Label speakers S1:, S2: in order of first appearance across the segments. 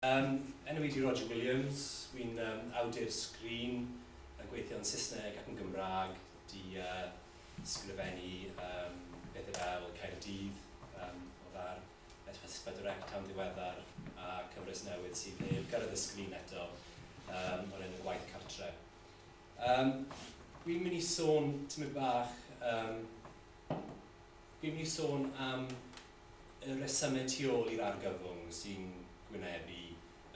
S1: Fy enw i ydy Roger Williams, wi'n awdur sgrin yn gweithio yn Saesneg ac yn Gymraeg, di sgrifennu pethau fel Caerdydd o far S S pedwar C tan ddiweddar a cyfres newydd sydd heb gyrraedd y sgrin eto o'r enw Gwaith Cartre. Wi'n mynd i sôn tamaid bach yym wi'n mynd i sôn am Y rhesymau tu ôl i'r argyfwng sy'n gwynebu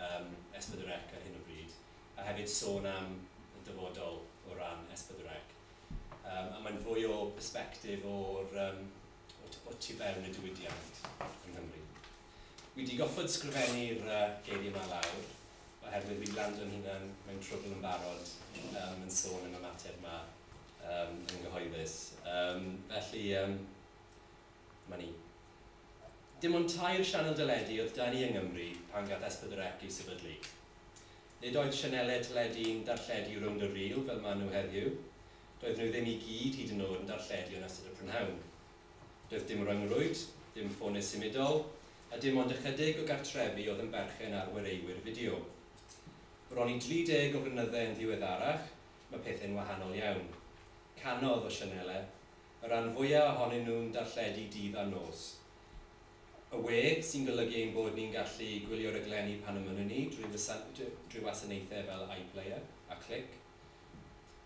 S1: ym S4C ar hyn o bryd, a hefyd sôn am y dyfodol o ran S4C. Yym, a mae'n fwy o persbectif o'r yym o t- o tu fewn y diwydiant yng Nghymru. Wi 'di goffod sgrifennu'r yy geiriau 'ma lawr, oherwydd wi 'di lando yn hunan mewn trwbl yn barod yym yn sôn am y mater 'ma yym yn gyhoeddus. Yym, felly yym, 'ma ni. Dim ond tair sianel deledu oedd 'da ni yng Nghymru pan gath S4C ei sefydlu. Nid oedd sianelau teledu'n darlledu rownd y ril fel maen nhw heddiw, doedden nhw ddim i gyd hyd yn oed yn darlledu yn ystod y prynhawn. Doedd dim ryngrwyd, dim ffonau symudol, a dim ond ychydig o gartrefi oedd yn berchen ar warewyr fideo. Bron i 30 o flynyddau yn ddiweddarach, mae pethau'n wahanol iawn. Cannoedd o sianelau. y rhan fwya' ohonyn nhw'n darlledu dydd a nos. Y we, sy'n golygu ein bod ni'n gallu gwylio raglenni pan ymynnwn ni drwy drwy wasanaethau fel iPlayer a Clic.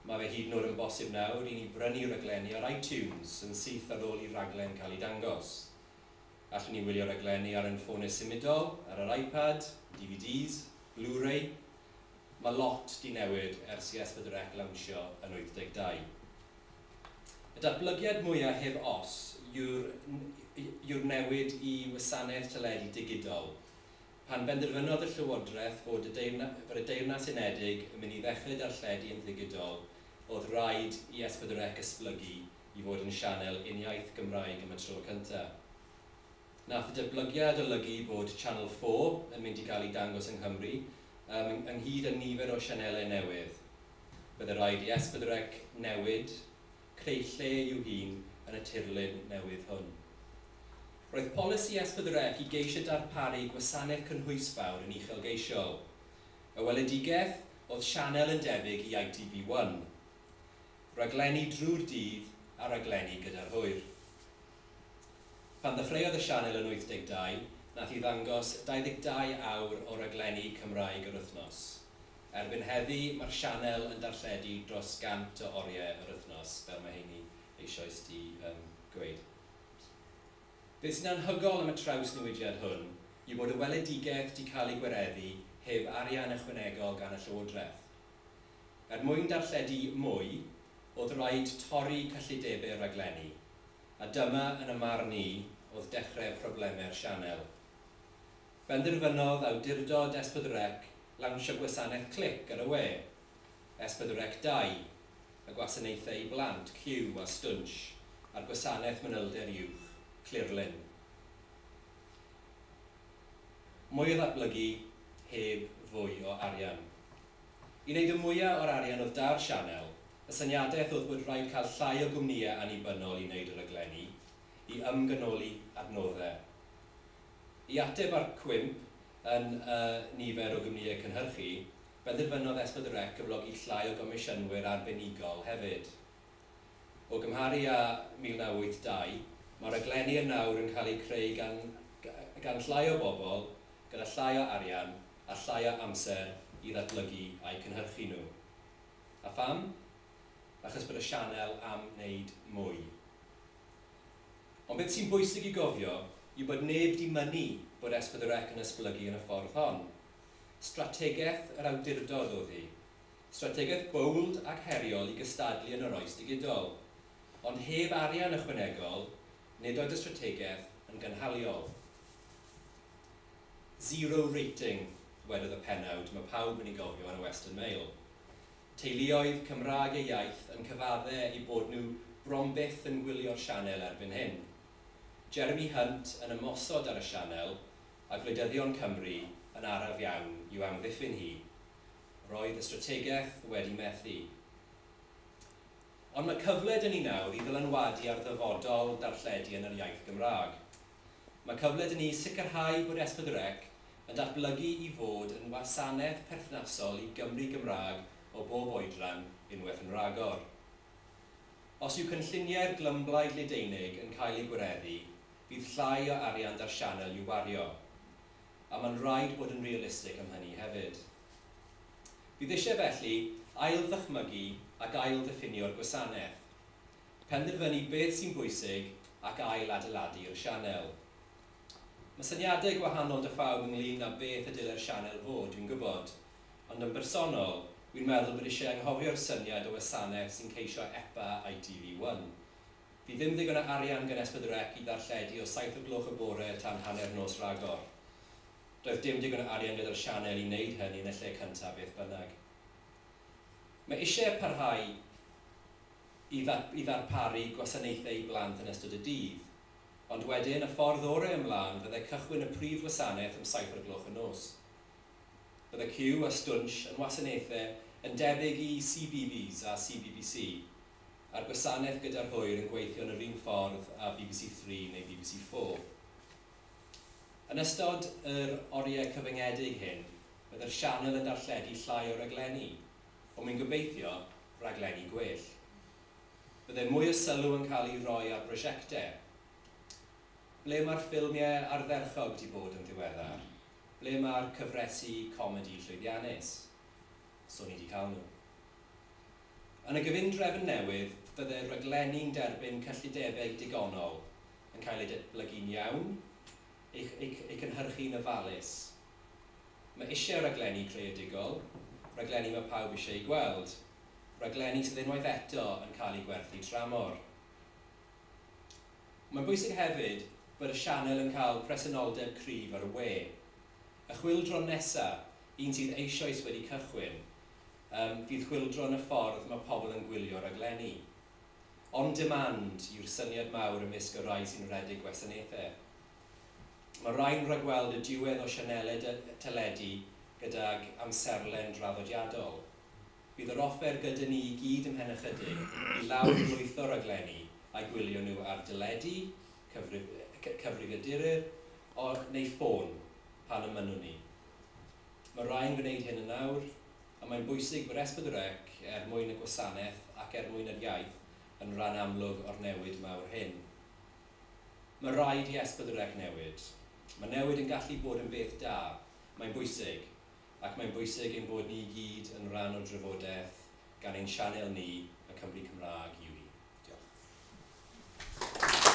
S1: Mae fe hyd yn oed yn bosib nawr i ni brynu raglenni ar iTunes yn syth ar ôl i raglen cael ei dangos. Allwn ni wylio raglenni ar ein ffonau symudol, ar yr iPad, DVDs, Blu-ray. Mae lot 'di newid ers i S4C lawnsio yn 82. Y datblygiad mwyaf heb os yw'r yw'r newid i wasanaeth teledu digidol. Pan benderfynodd y Llywodraeth fod y Deyrna- fod y Deyrnas Unedig yn mynd i ddechrau darlledu yn ddigidol, o'dd raid i S4C esblygu i fod yn sianel uniaith Gymraeg am y tro cyntaf. Nath y datblygiad olygu bod Channel Four yn mynd i gael ei dangos yng Nghymru, ym ynghyd â nifer o sianelau newydd. Bydde rhaid i Esbydrec newid, creu lle i'w hun yn y tirlun newydd hwn. Roedd polisi Esbydrec i geisio darparu gwasanaeth cynhwysfawr yn uchelgeisiol. Y weledigaeth oedd sianel yn debyg i ITV One. Raglenni drwy'r dydd a raglenni gyda'r hwyr. Pan ddechreuodd y sianel yn 82, nath hi ddangos 22 awr o raglenni Cymraeg yr wythnos. Erbyn heddi, ma'r sianel yn darlledu dros 100 o orie yr wythnos, fel ma' heini eisioes 'di yym gweud. Beth sy'n anhygol am y trawsnewidiad hwn yw bod y weledigaeth 'di ca'l ei gwareddu heb arian ychwanegol gan y Llywodraeth. Er mwyn darlledu mwy, o'dd raid torri cyllidebe'r raglenni, a dyma, yn y marn i, o'dd dechre probleme'r sianel. Benderfynodd awdurdod S4C lawnsio gwasanaeth clic ar y we, S4C Dau, y gwasanaethau i blant, Cyw a Stwnsh, a'r gwasanaeth manylder uwch, Clearlyn. Mwy o ddatblygu, heb fwy o arian. I wneud y mwya o'r arian oedd da'r sianel, y syniadaeth oedd bod rhaid cael llai o gwmnïau annibynnol i wneud y rhaglenni, i ymgynoli adnoddau. I ateb ar cwymp yn y nifer o gwmnïau cynhyrchu, benderfynodd Esbyd y Rec gyflogi llai o gomisiynwyr arbenigol hefyd. O gymharu â 1982, mae'r rhaglenni yn nawr yn cael eu creu gan gan llai o bobl, gyda llai o arian, a llai o amser i ddatblygu a'u cynhyrchu nhw. A pham? Achos bod y sianel am wneud mwy. Ond beth sy'n bwysig i gofio yw bod neb 'di mynnu bod S4C yn esblygu yn y ffordd hon. Strategaeth yr awdurdod oedd hi. Strategaeth bowld ac heriol i gystadlu yn yr oes digidol. Ond heb arian ychwanegol, nid oedd y strategaeth yn gynhaliol. Zero rating, ddywedodd y pennawd mae pawb yn ei gofio yn y Western Mail. Teuluoedd Cymraeg ei iaith yn cyfadde eu bod nhw bron byth yn gwylio'r sianel erbyn hyn. Jeremy Hunt yn ymosod ar y sianel, a gwleidyddion Cymru yn araf iawn i'w amddiffyn hi. Roedd y strategaeth wedi methu. Ond mae cyfle 'da ni nawr i ddylanwadu ar ddyfodol darlledu yn yr iaith Gymraeg. Mae cyfle 'da ni sicrhau bod S4C yn datblygu i fod yn wasanaeth perthnasol i Gymry Gymraeg o bob oedran unwaith yn rhagor. Os yw cynlluniau'r glymblaid Leideinig yn cael eu gwireddu, fydd llai o arian 'da'r sianel i'w wario. A mae'n rhaid bod yn realistig am hynny hefyd. Bydd eisiau felly ail-ddychmygu ac ail-ddiffinio'r gwasanaeth. penderfynu beth sy'n bwysig ac ail-adeiladu'r sianel. Mae syniadau gwahanol 'da phawb ynglŷn â beth y dylai'r sianel fod, dwi'n gwybod, ond yn bersonol, wi'n meddwl bod eisiau anghofio'r syniad o wasanaeth sy'n ceisio epa ITV One. Fydd ddim ddigon o arian gan Esbydrec i ddarlledu o saith o gloch y bore tan hanner nos Rhagor. Doedd dim digon o arian gyda'r sianel i wneud hynny yn y lle cyntaf beth bynnag. Mae eisiau parhau. i ddarparu gwasanaethau i blant yn ystod y dydd. Ond wedyn, y ffordd orau ymlaen fyddai cychwyn y prif wasanaeth am saith o'r gloch y nos. Bydde Cyw a Stwnsh yn wasanaethau yn debyg i CBBS a CBBC, a'r gwasanaeth gyda'r hwyr yn gweithio yn yr un ffordd â bbc Three neu bbc Four. Yn ystod yr oriau cyfyngedig hyn, byddai'r sianel yn darlledu llai o raglenni. ond mae'n gobeithio rhaglenni gwell. Byddai mwy o sylw yn cael ei roi ar brosiectau. Ble mae'r ffilmiau ardderchog wedi bod yn ddiweddar? Ble mae'r cyfresi comedi llwyddiannus? So ni wedi cael nhw. Yn y gyfundrefn newydd, fyddai'r rhaglenni'n derbyn cyllidebau digonol, yn cael eu datblygu'n iawn, eu cynhyrchu'n ofalus, Mae eisiau rhaglenni creadigol, rhaglenni mae pawb eisiau eu gweld, rhaglenni sydd unwaith eto yn cael eu gwerthu tramor. Mae'n bwysig hefyd bod y sianel yn cael presenoldeb cryf ar y we. Y chwyldro nesa', un sydd eisioes wedi cychwyn, yym, fydd chwyldro yn y ffordd mae pobl yn gwylio rhaglenni. On demand yw'r syniad mawr ymysg y rhai sy'n rhedeg gwasanaethau. Mae rhai'n rhagweld y diwedd o sianeled teledu gydag amserlen draddodiadol. Bydd yr offer gyda ni i gyd ymhen ychydig i lawr-lwytho o raglenni a gwylio nhw ar deledu, cyfrifiaduryr neu ffôn pan ymynnwn ni. Mae rhai'n gwneud hyn yn awr, ond mae'n bwysig bod SPWDREC, er mwyn y gwasanaeth ac er mwyn yr iaith, yn rhan amlwg o'r newid mawr hyn. Mae rhaid i Esbydwrec newid. Mae newid yn gallu bod yn beth da. Mae'n bwysig. Ac mae'n bwysig ein bod ni i gyd yn rhan o'r drafodaeth gan ein sianel ni, y Cymry Cymraeg, yw hi. Diolch.